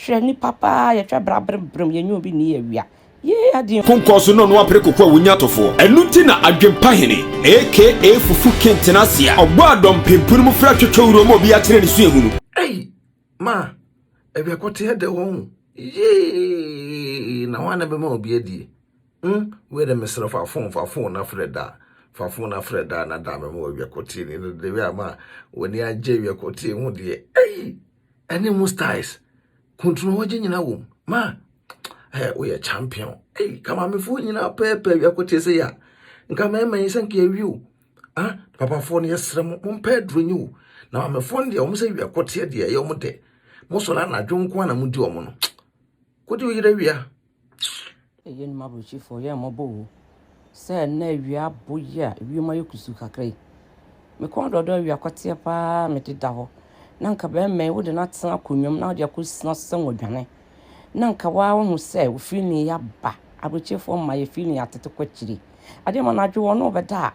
Hwɛ nipa paa yɛhwɛ bra brem brem yɛnyɛ obi nii awia yee adeɛ. Ko nkɔ so na ɔno apere koko a wonya tofoɔ. Ɛno nti na Adwempa Hene aka Fufu King tena ase a ɔbɔ a dɔm pempuni mu fra twetwe wura mu a obiara kyerɛ ne suahunu. Ei ma awia kɔteɛ dɛ wɔ ho yee na hwan na bɛma obi adie mm wei dɛ mesrɛ fa phone fa phone na frɛ da fa phone na frɛ da na da mɛma wɔ awia kɔteɛ ni na dɛ wei a ma w'ani agye awia kɔteɛ ho deɛ ei. ɛne mu styles kuntunu wɔgye nyina wom ma ɛɛ woyɛ champion ɛyi kamamefo nyina pɛɛpɛɛ wiako te sɛ ya nka mɛɛma yi sɛ nka yɛwi o ah papafoɔ no yɛsrɛ mo mompɛ aduro nyi o na mamefoɔ no deɛ wɔn sɛ wiako teɛ deɛ ɛyɛ wɔn dɛ mosɔre anadwo nko na modi wɔn no kodi wo yerɛ wia Ɛyɛ nnwuma aburokyifo, ɔyɛ mmɔbɔ o. Sɛ ɛnna awia abɔ yi a ewiem ayɛ kusuu kakra yi. Me kɔn dɔdɔ awia kɔteɛ paa me deda hɔ. Na nka bɛrima yi wode no atena akonnwa mu na wode akɔ sina sɛ wɔdwane. Na nka waa wahu sɛ ofiri ne ya ba. Aburokyifo mma yɛfiri ne yɛatete kɔ akyiri. Adeɛ ma anadwo wɔn na wɔbɛda a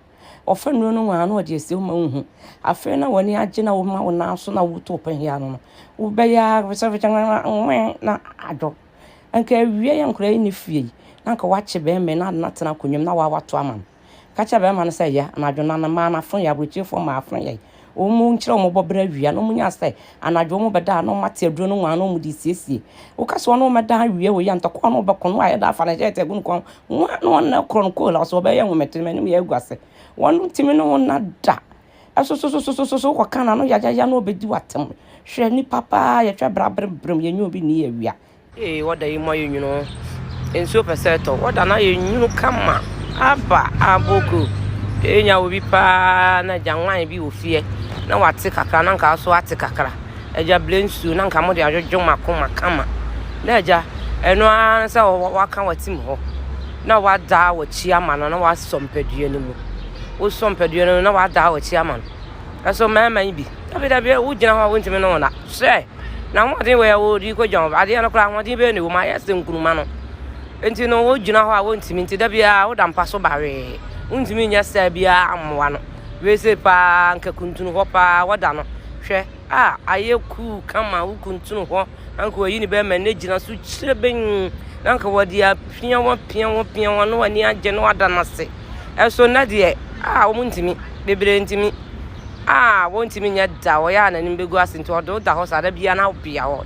wɔfa nnuro no nwaa na wɔde asi wo ma wohu. Afei na wɔn ani agye na wɔma wo nan so na woto pɛhia no no. Wobɛyɛ ara wobɛsɛ wobɛkyɛ nwɛn na adwo. Anka awia yi nkora yi ne fie yi, na anka wakye bɛrima yi na ade no atena akonnwa mu na wawa to ama no. Ka kyerɛ bɛrima no sɛ yɛ, anadwo no ano mmaa no afo yɛ, aburokyirifoɔ mmaa afo yɛ. Wɔn nkyerɛ wɔn bɔ berɛ awia na wɔn nya sɛ anadwo wɔn bɛda a na wɔn ate aduro no nwan na wɔn de siesie. Woka sɛ wɔn na wɔn bɛda awia wɔ yi a, ntɔkwa a wɔn bɛko no a yɛda afa no hyɛɛte agu no kɔn ho a na wɔn na korɔ no koola so wɔbɛyɛ nhometo no anim yɛ agu ase. Wɔn ntumi ne wo nna da. Ɛsosososososo wokɔka no ano yayaya na ɔbɛdi w'atam. Hwɛ nnipa paa yɛtwa bra berɛberɛm yɛnyɛ obi nni awia. Ee wɔda yi mu ayɛ nwunu o nsuo pɛ sɛ ɛtɔ wɔda no ayɛ nwunu kama aba aboko ee nya wɔ bi paa na agya nwan bi wɔ fie na wate kakra na nka so ate kakra agya blɛ nsuo na nka mo de adwodwo mako ma kama na agya ɛno ara sɛ waka watim hɔ na wada wakyi ama no na wasɔ mpadua no mu. wosɔ mpadua no na wadaa w'akyi ama no ɛso mmarima yi bi dabi dabi wogyina hɔ a wontumi ne wɔn da sɛ na ahoɔden wɔ yɛ wɔdi kɔ dwan adeɛ no koraa ahoɔden bɛyɛ ne wɔn ayɛ sɛ nkuruma no nti no wogyina hɔ a wontumi nti da biara woda mpa so bawee wontumi nyɛ saa biara ammoa no wese paa nka kuntunu hɔ paa wɔda no hwɛ a ayɛ kuu kama wo kuntunu hɔ na nka wɔayi no bɛyɛ ma n'agyina so kyerɛbɛnn na nka wɔde apia wɔn apia wɔn apia wɔn na wɔn ani agye na wɔada no ase ɛso nnɛ deɛ a wɔn ntumi bebree ntumi a wɔn ntumi nyɛ da wɔyɛ a n'anim bɛgu ase nti ɔde wo da hɔ saa da biara na wobea hɔ.